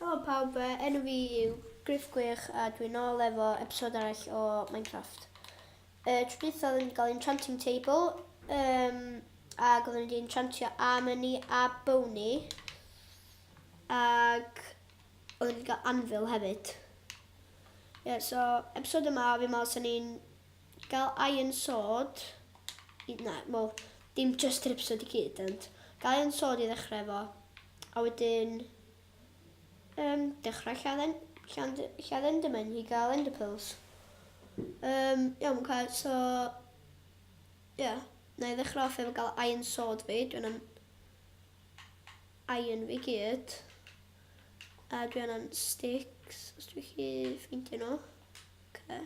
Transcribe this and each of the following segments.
Helo pawb, uh, enw fi yw Griff Gwych a dwi'n ôl efo episod arall o Minecraft. Uh, Trwyditha oedden ni'n cael enchanting table, um, ac oedden ni'n enchantio armor ni a bow ni, ac oedden ni'n cael anvil hefyd. Ie, yeah, so episod yma fi meddwl sy'n ni'n Gall iron sod i... na, wel, dim jyst yr ypsod i gyd, ond gall iron sod i ddechrau efo, a wedyn um, dechrau lladd, lladd, lladd endermen i gael enderpearls. Um, iawn, cael, so... Ie, yeah, na i ddechrau off efo gael iron sod fi, dwi'n am iron fi gyd. A dwi'n am sticks, os dwi'n chi ffeindio nhw. Okay.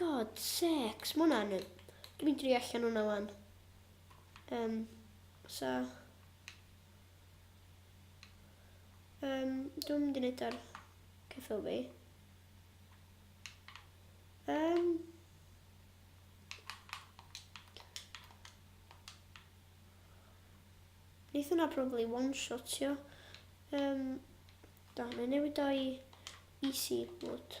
God sakes, ma hwnna'n... Dwi'n mynd i allan hwnna wan. Um, so... Um, dwi'n mynd i wneud ar ceffil fi. Um, Neith hwnna probably one-shotio. Um, da, mae'n newid o'i easy mode.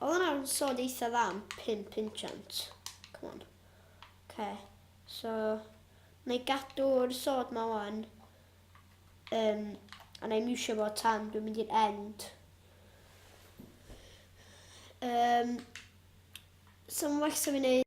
Oedd hwnna yn sôn eitha dda am pum pinchant. Come on. Oce. So, na i gadw'r sod ma wan. Um, a na i miwsio fo tan dwi'n mynd i'r end. Um, so mae'n well sa fi'n neud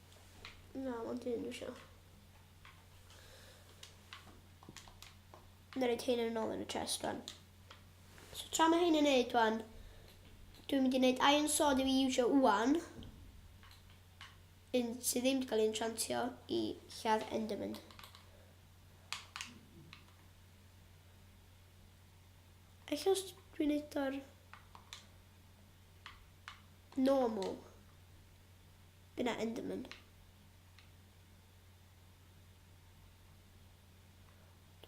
Na, ond un dwi isio. Yn rhaid hyn yn ôl yn y chest rwan. So tra mae hyn yn neud rwan, dwi'n mynd i wneud iron sword i fi iwsio wwan. Un sydd ddim wedi cael ei enchantio i lladd Enderman. Eich os dwi'n neud o'r normal. Gyda Enderman.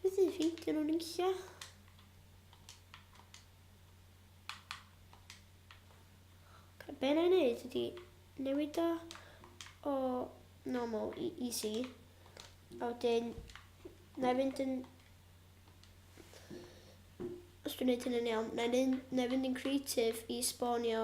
Beth ydy ffeindio nhw'n eisiau? Be na i wneud ydy newid o o normal i easy. A wedyn, na i fynd yn... Os dwi'n gwneud hyn yn iawn, na i fynd yn creative i spawnio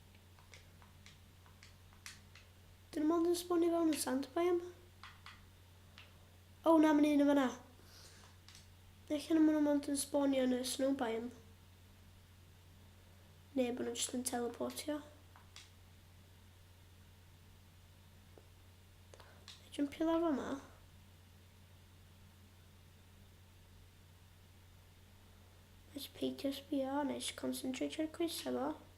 Dyn nhw mond yn sbwnio fewn yn sand bai yma. O, na, mae'n un yn fanna. Eich yna maen nhw mond yn sbwnio yn y snow bai yma. Neu bod nhw'n just yn teleportio. Jumpio lawr yma. Nes peidio sbio, nes concentrate ar coes efo.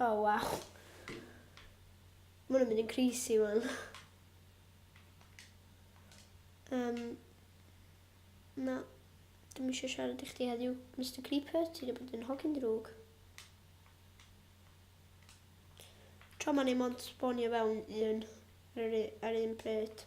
Oh wow. Mae'n mynd yn creasy wan. Um, na, dim eisiau siarad i chdi heddiw, Mr Creeper, ti wedi bod yn hogyn drwg. Tro ma'n ei mond sbonio fewn un ar un pryd.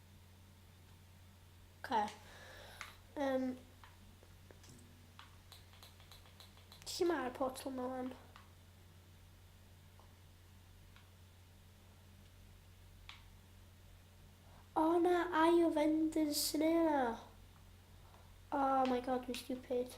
Okay. Um, lle mae'r portal yma wan? O oh, na, aio vendors yn yna. Oh my god, mi stupid.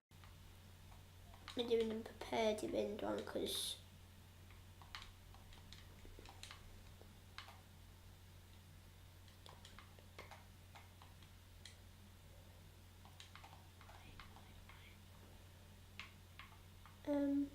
Mae di mynd yn prepared i fynd o'n cwrs. Um,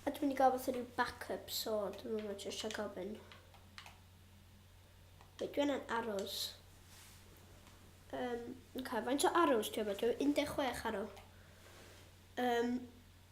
A dwi'n mynd i gael fath o rhyw backup, so dwi'n mynd i jyst rhaid gofyn. Wait, dwi'n yn arrows. Um, okay, faint o arrows dwi'n mynd? Dwi'n 16 arrow. Um,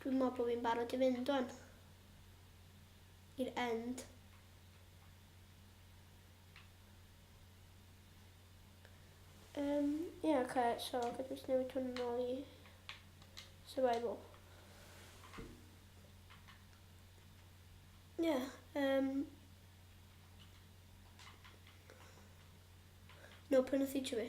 Dwi'n meddwl bod fi'n barod i fynd o'n i'r end. Um, ie, yeah, okay, so gydw i'n newid hwn yn ôl i survival. Ie, yeah, um, no, prynu feature fi.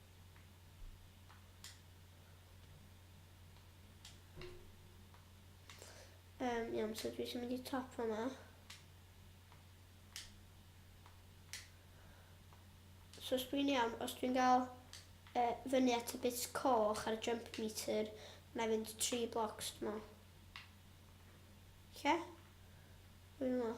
Um, iawn, so dwi eisiau mynd i top yma. So os dwi'n iawn, os dwi'n gael uh, fyny at y bit coch ar y jump meter, na fynd tri blocs dwi'n meddwl. Lle? Dwi'n meddwl.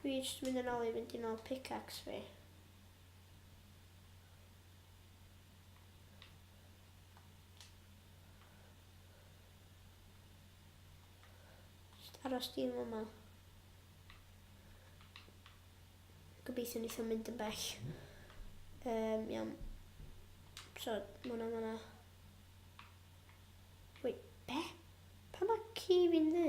Dwi jyst mynd yn ôl i fynd i nôl pickaxe fi. Jyst aros dim yma. Gobeithio wneith o'n mynd yn bell. Um, iawn. So, mwna, mwna. Wait, be? Pa mae ci fi'n ddu?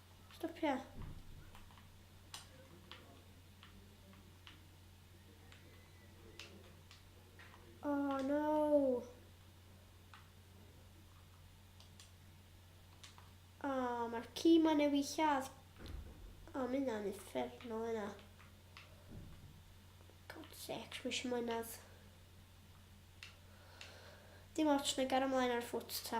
Stopia. Oh no. Oh, mae'r ci ma newid lladd. Oh, mae hynna'n effernol yna. God sec, mae eisiau mwynhad. Dim ots, na gar ymlaen ar ffwt ta.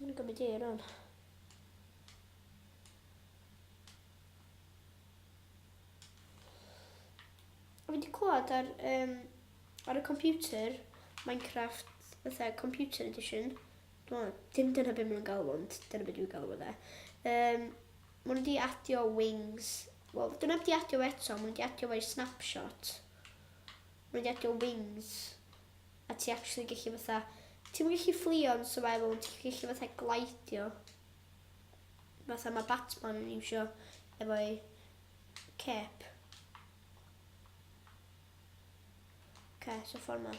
Mae'n gymryd ei rhan. Fi wedi clywed ar, um, ar y computer, Minecraft, fatha computer edition, dwi'n dim dyna beth maen nhw'n galw ond dyna beth dwi'n galw fe. Um, Mae nhw wedi adio Wings. Wel, dyn nhw heb wedi adio fo eto, mae nhw wedi adio fo i Snapshot. Mae nhw wedi adio Wings. A ti actually gallu fatha... Ti'n gallu fflio yn survival, ond ti'n gallu fatha glaidio. Fatha mae Batman yn iwsio efo'i cap. Okay, so ffordd ma.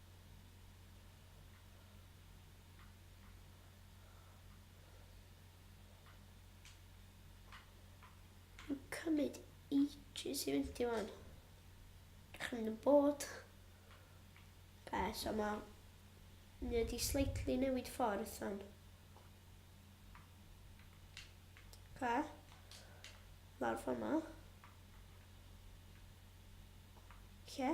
cymryd ages i fynd i fan. Chyn y bod. Be, so ma... Ni wedi slightly newid ffordd fan. Ca. Lawr fan ma. Lle?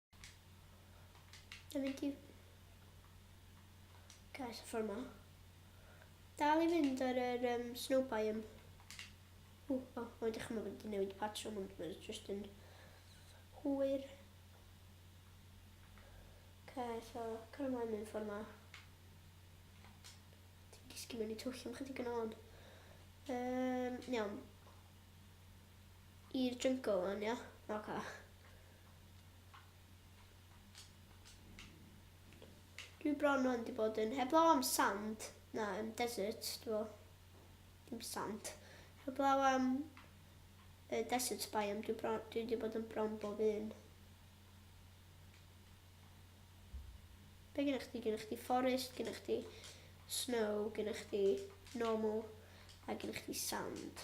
Yn mynd i... Gael sy'n ffordd ma. Dal i fynd ar yr um, snow biome. O, o, o, ydych chi'n meddwl bod wedi newid patrwm, ond mae'n just yn hwyr. Okay, so, cael ymlaen yn ffordd ma. Ti'n disgyn mewn i twll am chydig yn ôl. Um, iawn. I'r jungle o'n, ia? Oce. Okay. Dwi bron yn di bod yn heblaw am sand. Na, yn desert, dwi fel. Dim sand. Heblaw am uh, desert biome, dwi, bron, dwi di bod yn bron bob un. Be gynnwch chdi? Gynnwch chdi forest, gynnwch chdi snow, gynnwch chdi normal, a gynnwch chdi sand.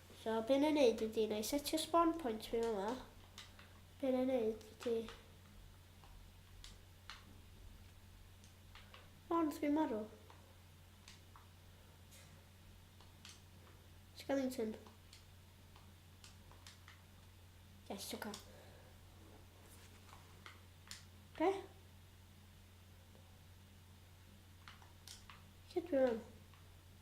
So be na i neud ydi, na i setio spawn point fi fama. Be na i neud ydi... O, nath fi marw. Skellington. Yes, oce. Okay. Be? Lle dwi mewn?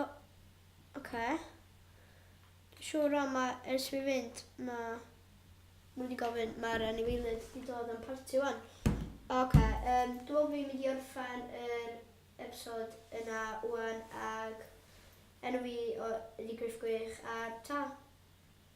O, oce. Siwr o ma ers fi fynd ma nhw wedi gofyn mae'r anifeilydd wedi dod am parti wan. Oce, um, dwi'n meddwl fi'n mynd i orffen yr episod yna wan ag enw fi o ydi Griff Gwych a ta!